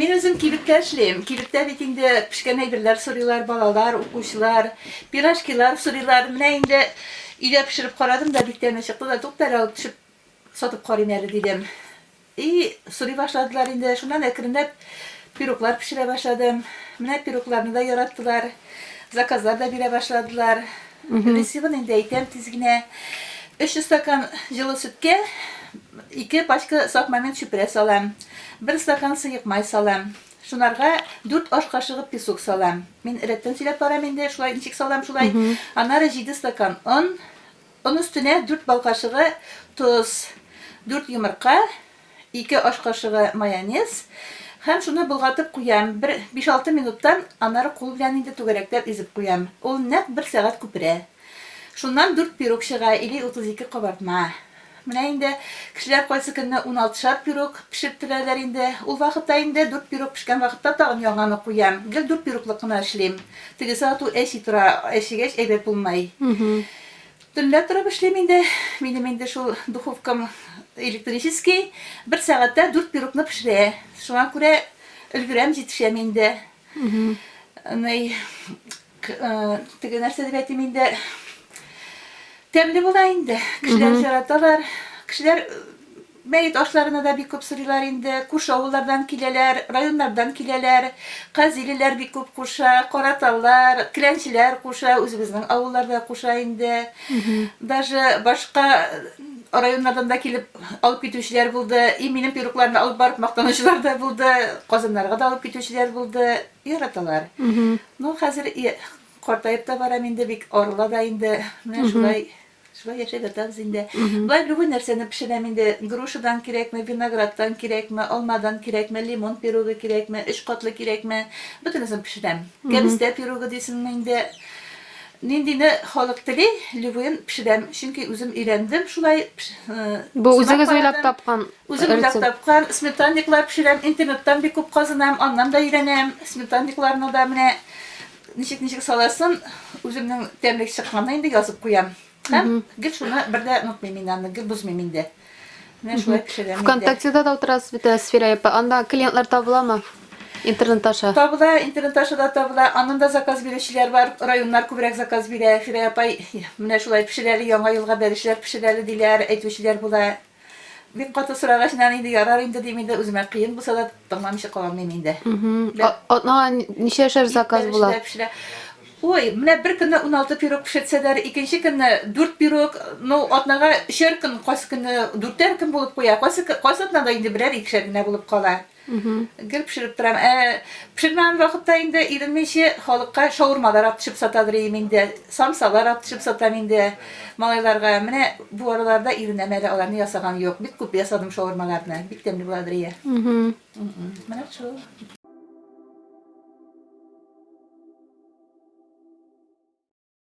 Мин үзем кибеттә эшлим. Кибеттә бит инде пешкән әйберләр сорыйлар, балалар, укучылар, пирожкилар сорыйлар. Менә инде өйдә пешереп карадым да, бик тәме чыкты да, туктар алып төшеп сатып карыйм әле дидем. И, сорый башладылар инде, шуннан әкренләп пироглар пешерә башладым. Менә пирогларны да яраттылар, заказлар да бирә башладылар. Рецебын инде әйтәм тиз генә. 300 стакан җылы сөткә 2 пачка сак момент чүпрә салам. 1 стакан сыек май салам. Шунарга 4 аш кашыгы песок салам. Мин рәттән сөйләп барам инде, шулай ничек салам шулай. Аннары 7 стакан он, Он өстенә дүрт бал кашыгы тоз, дүрт йомырка, ике аш кашыгы майонез һәм шуны болгатып куям. Бер биш-алты минуттан аннары кул белән инде түгәрәкләп изеп куям. Ул нәкъ бер сәгать күперә. Шуннан дүрт пирог чыга или утыз ике кабартма. Менә инде кешеләр кайсы көнне уналтышар пирог пешереп төрәләр инде. Ул вакытта инде дүрт пирог пешкән вакытта тагын яңаны куям. Гел дүрт пироглык кына эшлим. Тегесе ату әчи тора, әчегәч әйбәт булмай. Төнлә торып эшлим инде. Минем инде шул духовкам электрический, бер сәгатьтә дүрт пирогны пешерә. Шуңа күрә өлгерәм, җитешәм инде. Ный, теге нәрсә дип әйтим инде, тәмле була инде. Кешеләр яраталар. Кешеләр Мәет ашларына да бик күп сорыйлар инде. Күрше авыллардан киләләр, районнардан киләләр. Казилеләр бик күп куша, караталар, келәнчеләр куша, үзебезнең авыллар да куша инде. Даже башка районнардан да килеп алып китүчеләр булды. И минем пирукларны алып барып мактанучылар да булды. Казаннарга да алып китүчеләр булды. Яраталар. Ну, хәзер картаеп та барам инде, бик арыла да инде. Менә шулай. Шулай яшәп ятабыз инде. Болай любой нәрсәне пешерәм инде. Грушадан кирәкме, виноградтан кирәкме, алмадан кирәкме, лимон пирогы кирәкме, өч катлы кирәкме, бөтенесен пешерәм. Кәбестә пирогы дисеңме инде. Ниндине халык тели, любойын пешерәм. Чөнки үзем өйрәндем шулай. Бу үзегез уйлап тапкан? Үзем уйлап тапкан. Сметанниклар пешерәм. Интернеттан бик күп казынам, аннан да өйрәнәм. Сметанникларны да менә Ничек ничек саласын, үземнең тәмлек чыкканны инде язып куям. Һәм гел шуны бер дә онытмыйм мин аны, гел бозмыйм инде. Менә шулай пешерәм инде. ВКонтактеда да утырасыз бит, Сфера апа. Анда клиентлар табыламы? Интернет аша. Табыла, интернет аша да табыла. Аннан да заказ бирүчеләр бар. Районнар күбрәк заказ бирә. Фирә апай, менә шулай пешерәле, яңа елга бәлешләр пешерәле диләр, әйтүчеләр була. Бик каты сорагач, нәни инде ярар инде дим инде, үземә кыен булса да тыңламыйча кала алмыйм инде. Атнага ничә шәр заказ була? Ой, менә бер көнне 16 пирог пешерсәләр, икенче көнне 4 пирог, ну, атнага өчәр көн, кайсы көнне дүртәр көн булып куя, кайсы кайсы атнада инде берәр икешәр генә булып кала. Гел пешереп торам. Ә пешермәгән вакытта инде иремне ише халыкка шаурмалар атышып сатадыр идем инде. Самсалар атышып сатам инде малайларга. Менә бу араларда иренәм әле аларны ясаган юк. Бик күп ясадым шаурмаларны. Бик тәмле буладыр ия. Менә шул.